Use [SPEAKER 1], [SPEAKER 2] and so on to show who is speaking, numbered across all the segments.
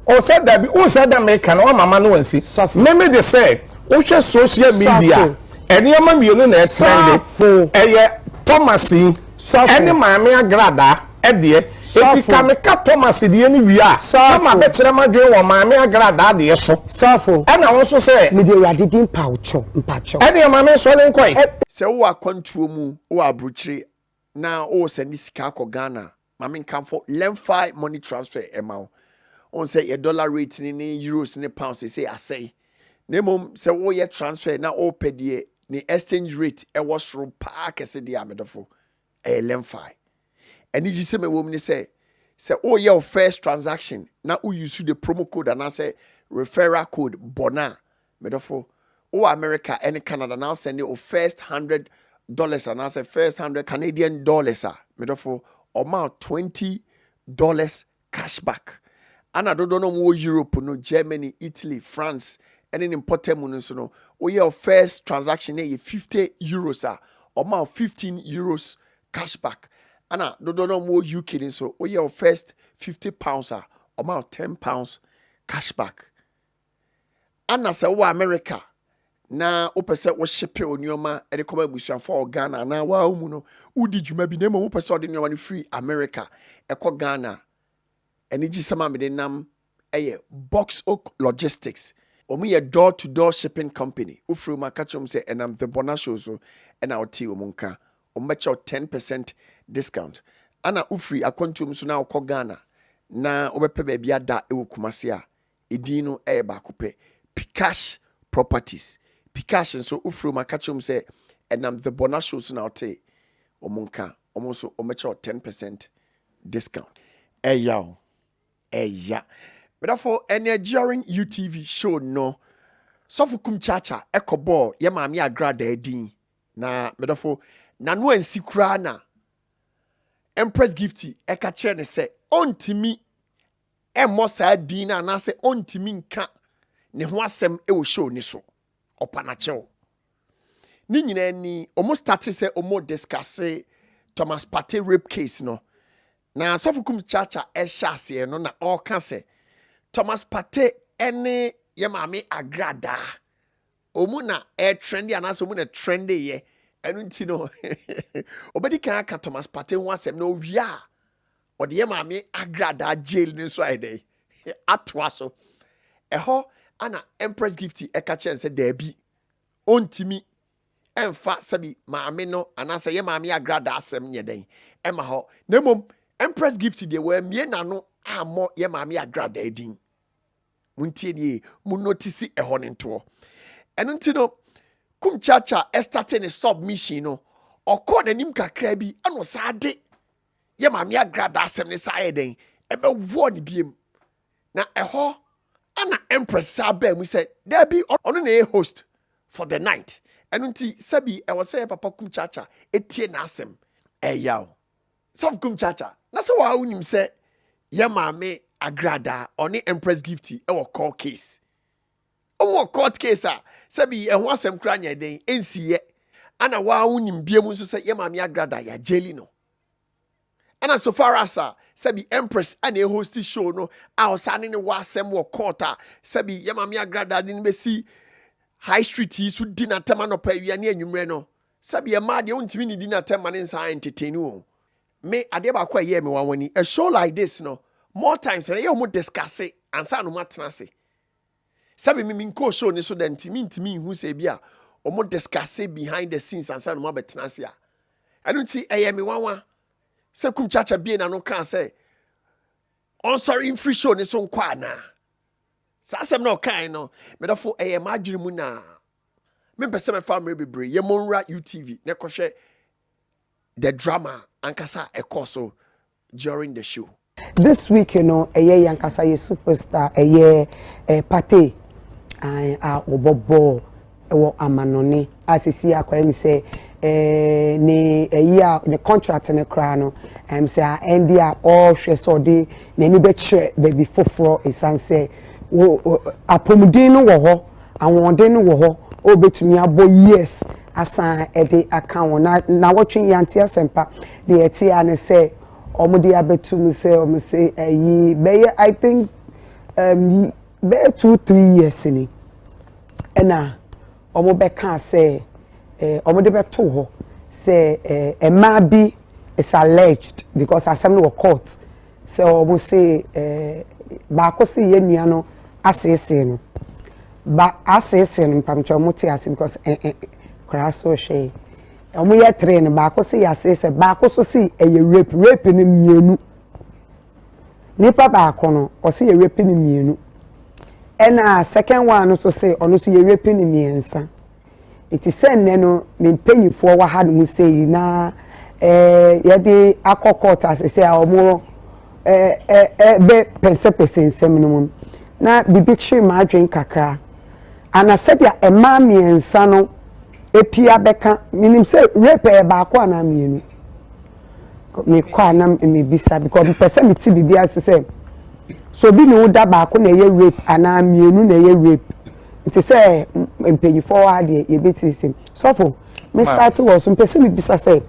[SPEAKER 1] ɔsɛ dabi o sɛ da meka na wama ma no wansi meme de sɛ wohwɛ social media ɛnneɛma mmienu na ɛtrɛnde ɛyɛ thomas yi ɛne maame agradaa ɛdeɛ eti ka meka thomas deɛ ne wie a na ma bɛkyerɛ ma dwen wɔ maame agradaa deɛ so ɛna wo nso sɛ mede awurade din mpakyɛw mpakyɛw ɛdeɛ maame nsɔle nkɔe sɛ wowɔ akwantuo
[SPEAKER 2] mu wɔ aburokyire na wowɔ sɛ ne sika akɔ ghana Ma me nkamfo Lemfi money transfer mma wo. Wohu sɛ yɛ dollar rate ne ne euros ne pounds seesei asɛe. Na mmom sɛ woyɛ transfer na wopɛ deɛ ne exchange rate ɛwɔ soro paa kɛse deɛ a, me dɔfo, ɛyɛ Lemfi. Anigyesɛm a ɛwɔ mu ne sɛ, sɛ woreyɛ wo first transaction na wo use the promo code anaasɛ referral code bɔ no a, Me dɔfo, wowɔ America ne Canada na wosɛn de o first hundred dollars anaasɛ first hundred Canadian dollars a, me dɔfo, ɔma wo twenty dollars cashback. Ana dodoɔ no a wɔwɔ Europe no, Germany, Italy, France ne ne mpɔtam mu no nso no, woyɛ o first transaction na ɛyɛ fifty euros a, ɔma wo fifteen euros cashback. Ana dodoɔ no a wɔwɔ UK no nso, woyɛ o first fifty pounds a, ɔma wo ten pounds cashback. Ana sɛ wowɔ Amerika na wopɛ sɛ wohyepe wo nneɛma de kɔma abusuafo a wɔ Ghana anaa waa mu no, wodi dwuma bi na mmom wopɛ sɛ ɔde nneɛma no firi Amerika ɛkɔ Ghana. Anigyesɛm a mede nam yɛ Box Oak Logistics. Wɔn yɛ door to door shipping company. Wofrɛ wɔn aka kyerɛ wɔn sɛ ɛnam The Bona Show so ɛna wotee wɔn nka. Wɔn bɛkyɛ wo 10 percent discount. Ana wofiri akwantuo mu so na wokɔ Ghana na wobɛpɛ baabi ada wɔ Kumasi a, Edin no yɛ baako pɛ, Pikash Properties. Pikash nso, wofrɛ wɔn a, ka kyerɛ wɔn sɛ ɛnam The Borna Show so na wotee wɔn nka. Wɔn nso, wɔbɛkyɛ wo ten percent discount. Ɛya o, ɛya. Medafo, ɛnɛ during UTV show no, Sɔfo Kum Kyaakyaa ɛkɔbɔɔ yɛ maame Agradaa din. Na medafo, n'ano ansi koraa na Empress Gifty ɛka kyerɛ no sɛ ɔntumi mmɔ saa din no anaasɛ ɔntumi nka ne ho asɛm wɔ show no so. Ɔpa na kyɛw. Ne nyinaa ni, wɔn starte sɛ wɔn discusse Thomas Partey rape case no. Na Sɔfo Kum Chacha ɛhyɛ aseɛ no na ɔreka sɛ Thomas Partey ɛne yɛ maame agradaa. Wɔn na ɛretrende anaasɛ wɔn na ɛtrende yɛ. Ɛno nti no, ɔbɛdi kan aka Thomas Partey ho asɛm na ɔwie a Wɔde yɛn maame Agradaa jail no nso ayɛ dɛn? Atoa so. Ɛhɔ ana Empress Gifty ɛka kyerɛ no sɛ daabi, ɔntumi ɛmfa sɛbi maame no anaasɛ yɛ maame Agradaa asɛm nyɛ dɛn ɛma hɔ. Na mmom Empress Gifty deɛ wɔammie n'ano ammɔ yɛ maame Agradaa din. Montie nie, mo notisi ɛhɔ no ntoɔ. Ɛno nti no, Kumchacha ɛstate ne submission no, ɔkɔɔ n'anim kakraa bi ɛna ɔsaa de yɛ Maame Agrada asɛm no saa ayɛ dɛn ɛbɛwɔɔ no biem. Na ɛhɔ na Empress saa baa mu sɛ, Dabi, ɔno na ɛyɛ host for the night. Ɛno nti, sɛbi ɛwɔ sɛ Papa Kumchacha tie n'asɛm. Ɛyaw. Sɔfo Kumchacha, na sɛ wo ara wonim sɛ yɛ Maame Agrada, ɔne Empress Gifty wɔ court case. Wɔ court case a sɛ bi ɛho asɛm koraa nyɛ den nsi yɛ ana waa wonim bia mu nso sɛ yɛ maame agrada ya jeli no ɛna so far as a sɛ bi empress ana e host show no a ɔsa ne ne wɔ asɛm wɔ court a sɛ bi yɛ maame agrada de ne bɛsi high street yi so di n'atɛm anɔpa awia ne anwummerɛ no sɛ bi ɛmaa deɛ wontumi ne di n'atɛm ma ne nsa entertain o me adeɛ baako a ɛyɛɛ me wanwani a show like this no more times na yɛ wɔn discuss ansa na wɔn atena ase Sɛ me me nkɔɔ show no so dɛ nti mentumi nhu sɛ ebi a wɔn discuss behind the scenes ansa na wɔn abɛtena ase a. Ɛno nti ɛyɛ me nwanwa sɛ Kum Kyaakyaa bie n'ano kaa sɛ ɔnsɔre mfiri show no so nkɔ anaa. Saa asɛm na ɔkae no medɔfo ɛyɛ m'adwene mu na mempɛ sɛ mɛfa mmerɛ bebree yɛ mɔnwura UTV na ɛkɔhwɛ the drama ankasa ɛkɔɔ so during the show. This week
[SPEAKER 3] no ɛyɛ yɛn ankasa yɛ superstar ɛyɛ eh, pate an a wɔbɔ bɔɔl wɔ amanɔne a sisi akora mi sɛ eh, ne ɛyi a ne contract no koraa no ɛm sɛ a ɛndi a ɔrehwɛ sɛ ɔde n'ani bɛkyerɛ baabi foforɔ esan sɛ wo- wo- apɔmuden no wɔ hɔ ahoɔden no wɔ hɔ ɔbɛtumi abɔ years asan ɛde aka wɔn na na wɔtwe yante asɛmpa Deɛ ɛte ara ne sɛ wɔde abɛto mu sɛ wɔse ayi bɛyɛ I think um, yi bɛyɛ two three years ni ɛna wɔbɛkaa sɛ eh, wɔde bɛto hɔ sɛ eh, mmaa bi is alleged because asɛm no wɔ court sɛ wɔn se eh, baako se yɛn nua no aseesee no ba aseesee no mpamkyɛ wɔn te ase because eh, eh, koraa so hwɛ Ɔmo yɛ three no baako se yasee sɛ baako so se ɛyɛ rape rape no mienu nipa baako no ɔse yɛ rape no mienu ɛna second one no so se ɔno so yɛ rape no miensa eti sɛ nnɛ no me mpanyinfoɔ wɔ ha no mu sei na ɛɛ yɛde akɔ court asese a ɔmo ɛɛ ɛɛ bɛ pɛnsɛpɛsɛ nsɛm no mu na bibi kyere m'adwene kakra ana sɛdeɛ ɛmaa miensa no. Epia bɛka, menim sɛ rape ɛyɛ baako anaa mmienu. Mekɔ a na mebisa because mepɛ sɛ mete biribi ase sɛ sɛ obi ne wo da baako na ɛyɛ rape anaa mmienu na ɛyɛ rape. Nti sɛ mpanyinfoɔ hɔ adeɛ yɛbɛtiesie. Sɔfo, me start wɔ so mpɛ sɛ mebisa sɛ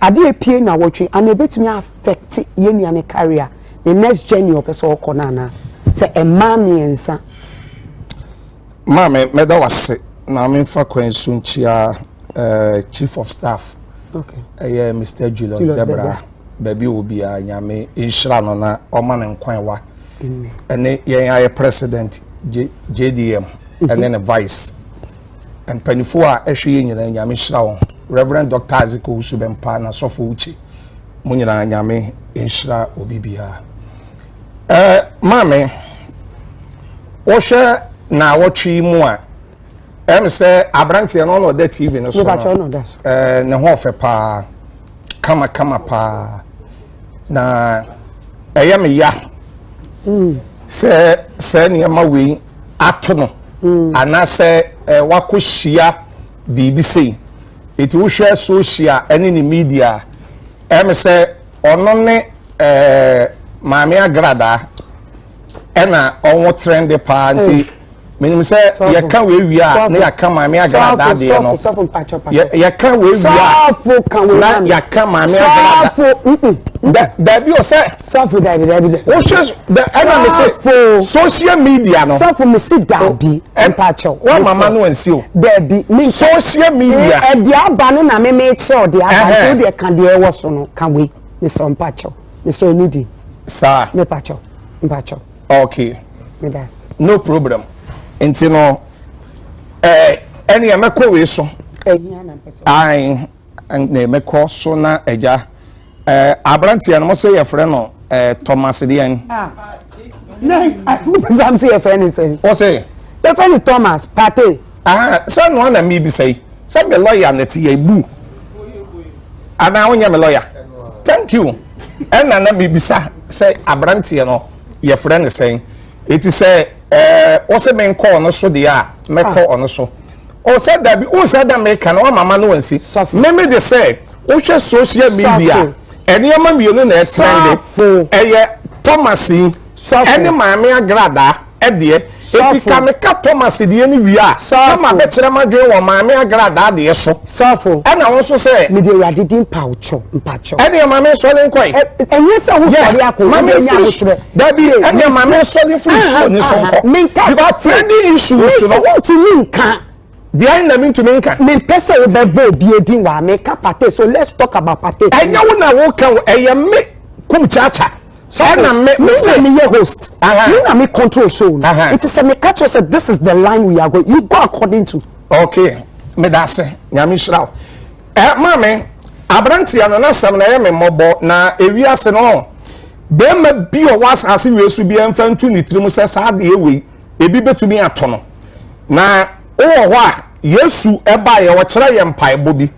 [SPEAKER 3] adeɛ epie na wɔtwe anaa ebɛtumi affect yɛn nua ne career ne next journey ɔpɛ sɛ ɔkɔ no anaa sɛ mmaa mmiɛnsa.
[SPEAKER 1] Maame mɛda wase na memfa kwan so nkyia eh, chief of staff okay. ɛyɛ
[SPEAKER 3] Mr. Julius,
[SPEAKER 1] Julius Debra, Debra. baabi wɔ biara nyame nhyira no na ɔma no nkwan wa ɛne yɛn ayɛ president JDM mhm. ɛne ne vice mpanimfoɔ a ɛhwɛ yɛ nyinaa nyame nhyira wɔn Reverend Dr. Isaac Owusu Bɛmpa na sɔfo Uche mo nyinaa nyame nhyira obi biara Eh, Maame, wohwɛ naawɔtwe yi mu a, ɛm sɛ aberanteɛ no ɔna ɔda TV no so no, eh, ne ho ɔfɛ paa, kamakama paa, na ɛyɛ me ya mm. sɛ sɛ nneɛma wei ato no mm. anaasɛ eh, wakɔhyia biribi sei ɛti wohwɛ social ɛne ne media ɛm sɛ Ɔno ne eh, Maame Agradaa ɛna ɔnwo trɛnde paa nti menim sɛ yɛka wei wie a na yɛaka Maame Agradaa deɛ no yɛka wei wie a na yɛaka Maame Agradaa daabi o sɛ
[SPEAKER 3] wohwɛ Da
[SPEAKER 1] ɛna me se social media no. Sɔfo me si daabi
[SPEAKER 3] mpa kyɛw. Wa mama no ansi
[SPEAKER 1] o. Daabi me nka.
[SPEAKER 3] Social media.
[SPEAKER 1] E de aba no na
[SPEAKER 3] me me kyerɛw de aba nti o de ka de ɛwɔ so no ka wei. Me sɛ mpa kyɛw. Me sɛ ni di. Saa. Me pa
[SPEAKER 1] kyɛw.
[SPEAKER 3] Mpa kyɛw. Okay.
[SPEAKER 1] Me das.
[SPEAKER 3] No problem.
[SPEAKER 1] Nti no eh ɛne ɛmɛkɔ wei so. Ɛhia na mpɛ sɛ.
[SPEAKER 3] Ae.
[SPEAKER 1] Na ɛmɛkɔ so na ɛgya. Aberanteɛ no mo se yɛfrɛ no Thomas deɛn?
[SPEAKER 3] Sam se yɛfrɛ no sɛn? Ɔse? Yɛfrɛ
[SPEAKER 1] no Thomas
[SPEAKER 3] Partey. Sɛ noa
[SPEAKER 1] na mebisa yi sɛ me lɔya na ɛte yɛn bu anaa wonyɛ me lɔya? Thank you ɛna na mebisa sɛ aberanteɛ no yɛfrɛ no sɛn eti sɛ ɔse menkɔ ɔno so deɛ a mɛkɔ ɔno so. ɔsɛ dabi wosɛ dɛ meka no wama ma no ansi meme de sɛ wohwɛ social media nneɛma mmienu na ɛtrɛnde ɛyɛ thomas yi ɛne maame agradaa ɛdeɛ eti ka meka thomas deɛ ne wie a na ma bɛkyerɛ ma dwen wɔ maame agradaa deɛ so sɔfo ɛna wo nso
[SPEAKER 3] sɛ
[SPEAKER 1] mede awurade di mpakyɛ
[SPEAKER 3] mpakyɛ ɛdeɛ maame
[SPEAKER 1] nsɔre nkɔe ɛnyɛ sɛ wosɔre
[SPEAKER 3] akɔ wode nya ahokyerɛ Dabi, ɛnna ma
[SPEAKER 1] me nsɔ ne firi suo ne so nkɔ. Menkasa branding issues no. Mesi wontumi nka.
[SPEAKER 3] Deɛ na
[SPEAKER 1] mentumi nka. Mempɛ sɛ wobɛbɔ
[SPEAKER 3] obi edin wɔ ameka pate so let's talk about pate. Ɛnyɛ wo na woka
[SPEAKER 1] o, ɛyɛ me kum kyaakya. Ɛnna me me sɛ me yɛ host.
[SPEAKER 3] Me na me control show no. Nti sɛ meka kyerɛ sɛ this is the line we are going you go according to. Okay,
[SPEAKER 1] meda ase, nyame nhyira wo. Eh maame, abranteɛ no n'asɛm na ɛyɛ me mmɔbɔ na ewiase no bɛrima bi ɔwɔ asase wei so bi ɛmfa ntu ne tirim sɛ saa adeɛ wei ebi bɛtumi ato no na wowɔ hɔ a Yesu ɛbaeɛ ɔkyerɛ yɛ mpaebɔ bi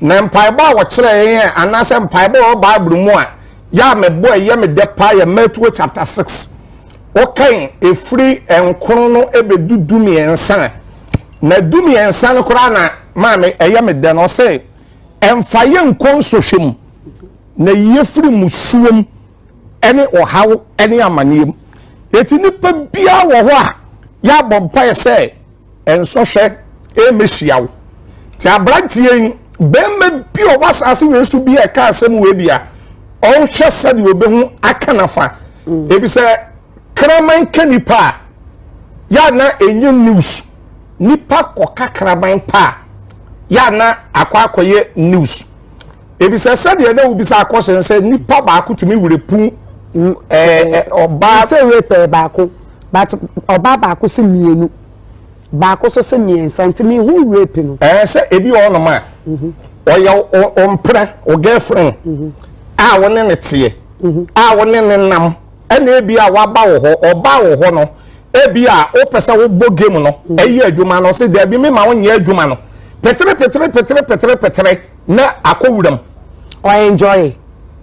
[SPEAKER 1] na mpaebɔ a ɔkyerɛ yɛ anaasɛ mpaebɔ wɔ Bible mu a yɛ a mebɔ ɛyɛ me dɛ paa yɛ Matthew chapter 6 wokan ɛfiri nkron no bɛdu du mmiɛnsa na du mmiɛnsa no koraa na maame ɛyɛ me dɛn ɔsɛ ɛmfa yɛ nkɔ nsɔhwɛ mu na yie firi musuo mu ɛne ɔhaw ɛne amaneɛ mu ɛti nipa biara wɔ hɔ a yɛabɔ mpaeɛ sɛ Nsɔhwɛ remmehyia wo. Te aberanteɛ yi, barima bi ɔwɔ asase wei so bi a ɛka asɛm wei bi a, ɔnhwɛ sɛdeɛ ɔbɛhu aka nafa. Ebi sɛ kraman ka nipa a, yɛ na ɛnyɛ news. Nipa kɔka kraman pa a, yɛ na akɔ akɔyɛ news. Ebi sɛ sɛdeɛ na wobisa akɔhyɛ sɛ nipa baako tumi werɛpu ɔbaa. Sɛ werɛpɛ
[SPEAKER 3] baako. But ɔbaa baako se mmienu, baako nso se mmiɛnsa nti mehu rape no. Ɛɛ sɛ ebi wɔ hɔnom
[SPEAKER 1] a ɔyɛ wo mpena wo girlfriend a wo ne ne teɛ a wo ne ne nam ɛna ebi a waba wɔ hɔ ɔbaa wɔ hɔ no ebi a wopɛ sɛ wobɔ game no ɛyɛ adwuma no ɔse daabi mema wonyɛ adwuma no petere petere petere petere petere na akɔ wuram ɔenjoy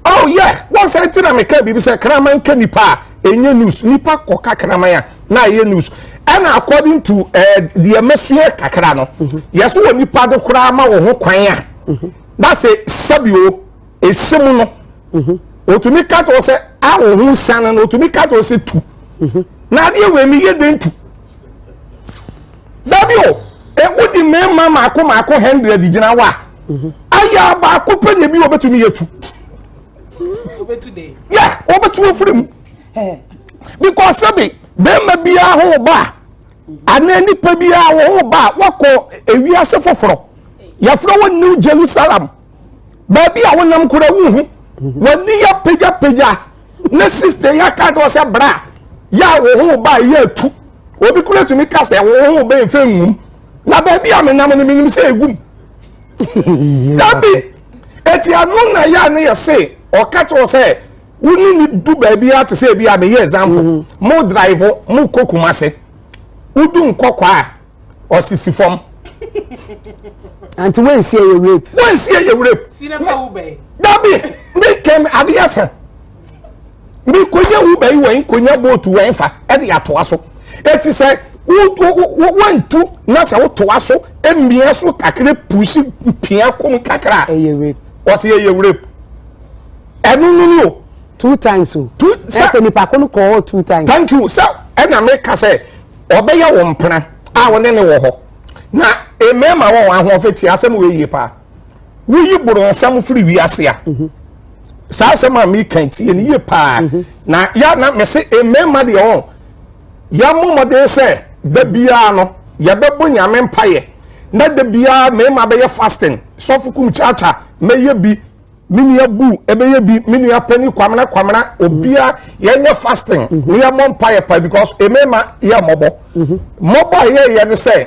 [SPEAKER 3] Oh yeah,
[SPEAKER 1] wɔn sɛ nti na meka biribi sɛ kraman ka nipa a ɛnyɛ news nipa kɔ ka kraman a na ɛyɛ news ɛna according to ɛɛ eh, deɛ mɛsua kakra no mhm. yɛso wɔ nipa do koraa ma wɔn ho kwan a mhm. na sɛ sɛbi o ehyɛ mu no mhm. otumi kato sɛ a wɔn ho nsan no otumi kato sɛ tu na adeɛ wɔ ani yɛ den tu. dabi o ewu di mmarima mako mako hundred gyina hɔ a mhm. ayɛ abaako pɛ na ebi wɔbɛtumi yɛ tu
[SPEAKER 4] yɛ wɔbɛtu afiri
[SPEAKER 1] mu because sɛbi bɛrima biara ho ba anaa nipa biara ho ba wakɔ ewiase foforɔ yɛfrɛ wɔ new jerusalem. baabi a wonam kora wonhu w'ani yɛ pagyapagya ne sista yi aka deɛ ɔsɛ bra yɛ a wo ho ba yɛ atu obi kora tumi ka sɛ wo ho bɛn fɛ nwum na baabi a menam no menim sɛ ɛgum dabi ɛti ɛno na yɛ a ne yɛ se ɔka kyerɛ sɛ wo ne ne du baabi a te sɛ bi a meyɛ example mm-hmm. mo drive mo kɔ kuma se wodu nkɔkɔ a ɔsisi fam.
[SPEAKER 3] anti wɛnsi yɛ rape. wɛnsi yɛ rape. sinafa
[SPEAKER 4] wo bɛyi. dabi mi
[SPEAKER 1] kɛm adeɛ sɛ mi konya wo bɛyi wɔn konya bootu wɔn fa ɛde atoa so eti sɛ wɔntu na sɛ wotoa so mmea so kakra pusi pia kom kakra wɔsi
[SPEAKER 3] yɛ yɛ rape
[SPEAKER 1] ɛnu nunu o. two
[SPEAKER 3] times o. two sɛ ɛsɛ nipa ko no kɔɔ two times. thank you sɛ ɛna
[SPEAKER 1] mi ka sɛ. Ɔbɛyɛ wo mpena a wo ne no wɔ hɔ. Na mmarima wɔn ahoɔfɛ tie asɛm wɔ yie paa. Woyi boronsam firi wiase a. Mhm. Saa asɛm a meka tie no yie paa. Mhm. Na ya na mese mmarima deɛ wɔn yɛmmɔ mmɔden sɛ da biara no yɛbɛbɔ nyame mpaeɛ na da biara mmarima bɛyɛ fasting sɔfo kum kyaakya mɛyɛ bi me nua bu ɛbɛyɛ bi me nua panyin kwamena kwamena obia yɛnyɛ fasting ne yɛmmɔ mpaeɛ pa because ɛmɛma yɛ mmɔbɔ mmɔbɔ a yɛyɛ ne sɛ